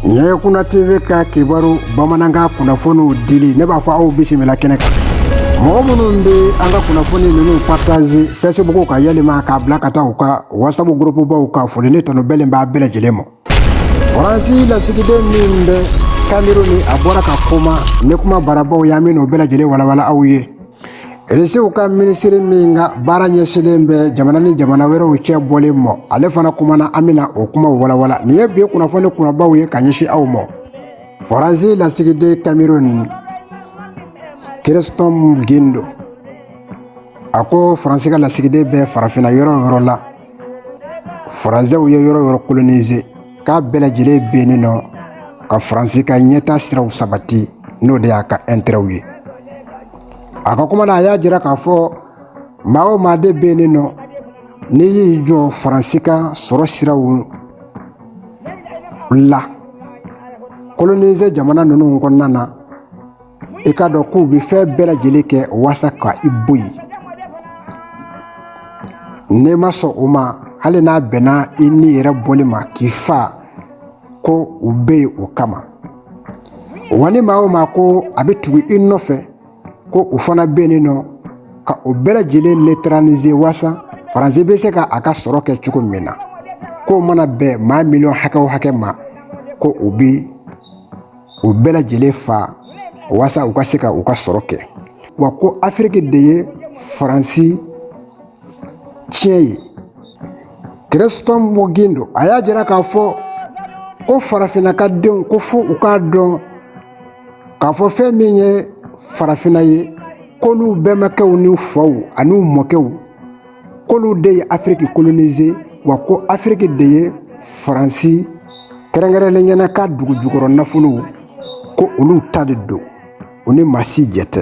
ɲɛɲɛ kunna tv ka kibaru bamanankan kunnafoniw dili ne b'a fɔ aw bisimila kɛnɛ kan mɔgɔ minnu bɛ an ka kunnafoni ninnu partaze fɛsibuku kan yɛlɛma k'a bila ka taa u ka watisabu gurupubaw kan foli ni tanu bɛlen b'a bɛɛ lajɛlen ma faransi lasigiden min bɛ kameruni a bɔra ka kuma ni kuma barabaw ye an bɛna o bɛɛ lajɛlen walawala aw ye Risiw ka minisiri min ka baara ɲɛsinlen bɛ jamana ni jamana wɛrɛw cɛ bɔlen ma ale fana kumana an bɛna o kuma walawala nin ye bi kunnafoni kunbabaw ye ka ɲɛsin aw ma faransi lasigiden kameruni kirisitɔfu gindo a ko faransi ka lasigiden bɛ farafinna yɔrɔ yɔrɔ la faransɛw ye yɔrɔ yɔrɔ kolonize k'a bɛɛ lajɛlen bɛ yen nɔ ka faransi ka ɲɛta siraw sabati n'o de y'a ka ɛntɛrɛw ye a ka kuma na a y'a jira k'a fɔ maa o maa de bɛ yen nɔ n'i y'i jɔ faransi ka sɔrɔ siraw la kolonize jamana ninnu kɔnɔna na i k'a dɔn k'u bɛ fɛn bɛɛ lajɛlen kɛ walasa ka i bɔ yen n'i ma sɔn o ma hali n'a bɛnna i ni yɛrɛ bɔli ma k'i fa ko u bɛ yen o kama wa ni maa o maa ko a bɛ tugu i nɔfɛ ko u fana bɛ yen nɔ ka o bɛɛ lajɛlen netaranize walasa faransi bɛ se ka a ka sɔrɔ kɛ cogo min na k'o mana bɛn maa miliyɔn hakɛ o hakɛ ma ko o bi u bɛɛ lajɛlen fa walasa u ka se ka u ka sɔrɔ kɛ wa ko afiriki de ye faransi tiɲɛ ye kirisitɔfu gindo a y'a jira k'a fɔ ko farafinna ka denw ko fo u k'a dɔn k'a fɔ fɛn min ye farafinna ye k'olu bɛnbakɛw ni faw ani mɔkɛw k'olu de ye afiriki kolonize wa ko afiriki de ye faransi kɛrɛnkɛrɛnlenya na a ka dugu jukɔrɔ nafolow ko olu ta de don u ni maa si jɛ tɛ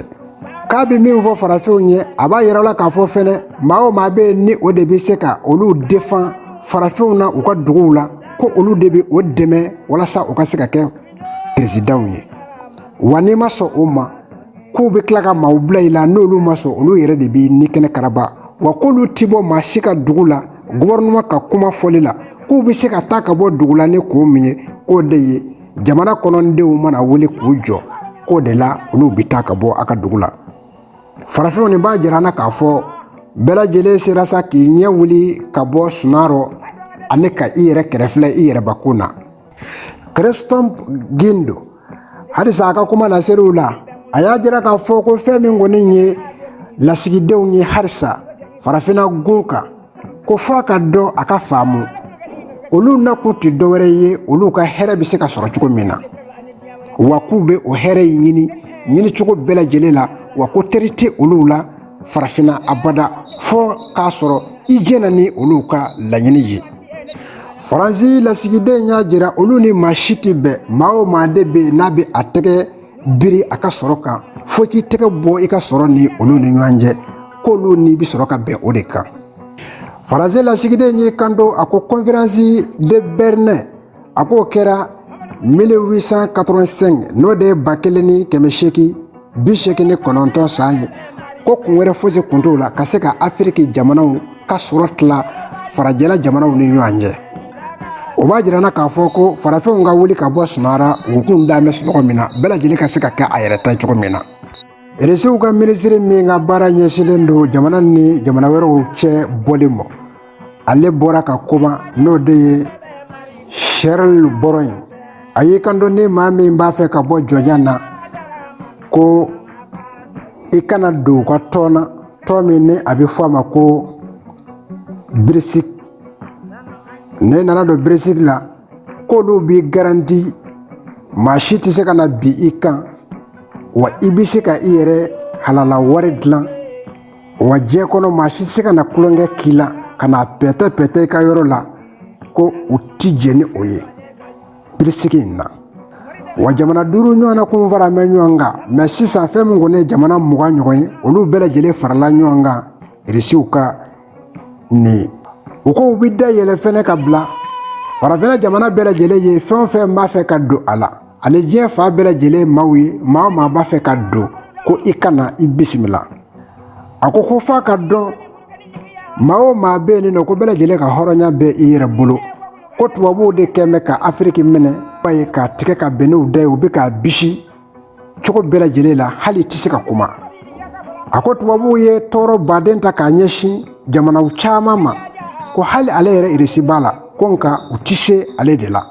k'a bɛ min fɔ farafinw ye a b'a yira la k'a fɔ fɛnɛ maa o maa bɛ yen ni o de bɛ se ka olu defan farafinw na u ka duguw la ko olu de bɛ o dɛmɛ walasa u ka se ka kɛ peresidanw ye wa n'i ma sɔn o ma k'u bɛ tila ka maaw bila i la n'olu ma sɔn olu yɛrɛ de b'i ni kɛnɛ karaba wa k'olu ti bɔ maa si ka dugu la gufɛrinɛma ka kuma fɔli la k'u bɛ se ka taa ka bɔ dugu la ni ko min ye k'o de ye jamana kɔnɔdenw mana wuli k'u jɔ k'o de la olu bɛ taa ka bɔ a ka dugu la farafinw nin b'a jira na k'a fɔ bɛɛ lajɛlen sera sa k'i ɲɛ wuli ka bɔ sunɔ rɔ ani ka i yɛrɛ kɛrɛ filɛ i yɛrɛbakun na kirisitɔfu gindo halisa a ka kuma laseli la a y'a jira k'a fɔ ko fɛn min kɔni ye lasigidenw ye halisa farafinna gun kan ko fo a ka dɔn a ka faamu olu na kun tɛ dɔwɛrɛ ye olu ka hɛrɛ bɛ se ka sɔrɔ cogo min na wa k'u bɛ o hɛrɛ in ɲini ɲini cogo bɛɛ lajɛlen la wa ko teri tɛ olu la farafinna abada fo k'a sɔrɔ i jɛna ni olu ka laɲini ye faransi lasigiden y'a jira olu ni maa si tɛ bɛn maa o maa de bɛ yen n'a bɛ a tɛgɛ biri a ka sɔrɔ kan fo i k'i tɛgɛ bɔ i ka sɔrɔ ni olu ni ɲɔgɔn cɛ k'olu n'i bɛ sɔrɔ ka bɛn o de kan faransi lasigiden y'i kanto a ko conférence de Berlin a k'o kɛra mille huit cent quatre-vingt-cinq n'o de ye ba kelen ni kɛmɛ segin bi segin ni kɔnɔntɔn san ye ko kun wɛrɛ foyisi tun t'o la ka se ka afiriki jamanaw ka sɔrɔ tila farajɛla jamanaw ni ɲɔgɔn cɛ o b'a jira k'a fɔ ko farafinw ka wuli ka bɔ sunɔgɔ la u kun da bɛ sunɔgɔ min na bɛɛ lajɛlen ka se ka kɛ a yɛrɛ ta cogo min na Irisiw ka minisiri min ka baara ɲɛsinlen don jamana ni jamana wɛrɛw cɛ bɔlen ma ale bɔra ka kuma n'o de ye Sergueï Lavrov ye a y'i kanto ni maa min b'a fɛ ka bɔ jɔnya na ko i ka na don u ka tɔn na tɔn min ni a bɛ fɔ a ma ko BRICS n'i nana don BRICS la k'olu b'i garanti maa si tɛ se ka na bin i kan wa i bɛ se ka i yɛrɛ halala wari dilan wa diɲɛ kɔnɔ maa si tɛ se ka na tulonkɛ k'i la ka na pɛtɛ pɛtɛ i ka yɔrɔ la ko u tɛ jɛn ni o ye BRICS in na wa jamana duuru ɲɔgɔn na kun faralen bɛ ɲɔgɔn kan mais sisan fɛn min kɔni ye jamana mugan ɲɔgɔn ye olu bɛɛ lajɛlen farala ɲɔgɔn kan irisiw ka nin u ko u bɛ da yɛlɛ fɛnɛ ka bila farafinna jamana bɛɛ lajɛlen ye fɛn o fɛn b'a fɛ ka don a la ani diɲɛ fan bɛɛ lajɛlen maaw ye maa o maa b'a fɛ ka don ko i ka na i bisimila a ko ko f'a ka dɔn maa o maa bɛ yen nɔ ko bɛɛ lajɛlen ka hɔrɔnya bɛ i yɛrɛ bolo ko tubabuw de kɛlen bɛ ka afiriki minɛ ba ye k'a tigɛ ka bɛn n'u da ye u bɛ k'a bisi cogo bɛɛ lajɛlen la hali tɛ se ka kuma a ko tubabuw ye tɔɔrɔba de ta k'a ɲɛsin jamanaw caman ma ko hali ale yɛrɛ irisi b'a la ko nka u tɛ se ale de la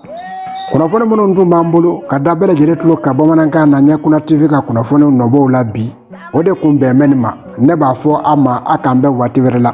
kunnafoni minnu tun b'an bolo ka da bɛɛ lajɛlen tulo kan bamanankan na ɲɛ kunna tv ka kunnafoniw nɔbɔw la bi o de kun bɛnnen bɛ nin ma ne b'a fɔ a ma a k'an bɛn waati wɛrɛ la